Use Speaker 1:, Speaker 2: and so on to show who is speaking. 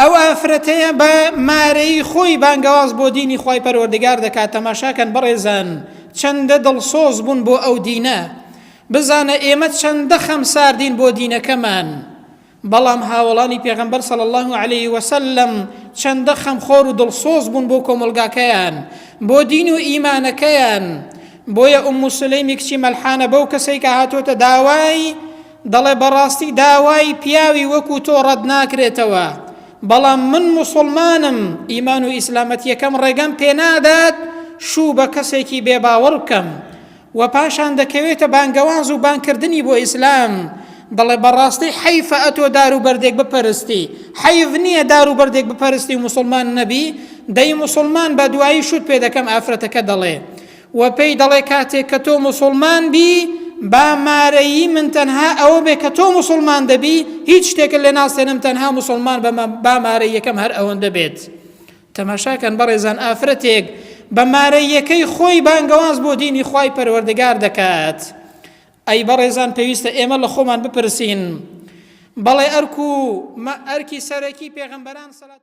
Speaker 1: ئەو ئافرەتەیە بە مارەیی خۆی بانگەواز بۆ دینی خوای پەروەردگار دەکات تەماشاکەن بەڕێزان چەندە دڵسۆز بوون بۆ ئەو دینە بزانە ئێمە چەندە خەم ساردین بۆ دینەکەمان بەڵام هاوڵانی پێغەمبەر صلی الله عليه وسلم چەندە خەمخۆر و دڵسۆز بوون بۆ کۆمەلگاکەیان بۆ دین و ئیمانەکەیان بۆیە ئوم مسلەیمی کچی مەلحانە بەو کەسێکە هاتۆتە داوای دەڵێ بەڕاستی داوای پیاوی وەکو تۆ ڕەت ناکرێتەوە بەڵام من موسڵمانم ئیمان و ئیسلامەتیەکەم ڕێگەم پێنادات شوو بە کەسێکی بێباوەڕ بکەم و پاشان دەکەوێتە بانگەوانز و بانکردنی بۆ ئیسلام دەڵێ بەڕاستی حەیفە ئەتۆ دار و بەردێک بپەرستی حەیف نییە دار و بەردێک بپەرستی و مسلمان نەبی دەی مسلمان بە دوایی شوت پێ دەکەم ئافرەتەکە دەڵێ وە پێی دەڵێ کاتێک کە تۆ موسوڵمان بی با مارەیی من تەنها ئەوە بێ کە تۆ موسوڵمان دەبی هیچ شتێکت لێ ناستێنم تەنها موسوڵمان بە با مارەیەکەم هەر ئەوەندە بێت تەماشاکەن بەڕێزان ئافرەتێک بە مارەیەکەی خۆی بانگەواز بۆ دینی خی پەروەردەگار دەکات ئەی بەڕێزان پێویستە ئێمە لە خۆمان بپرسین بەڵێ ئەرک و ئەرکی سەرەکی پێغمبەران سەلات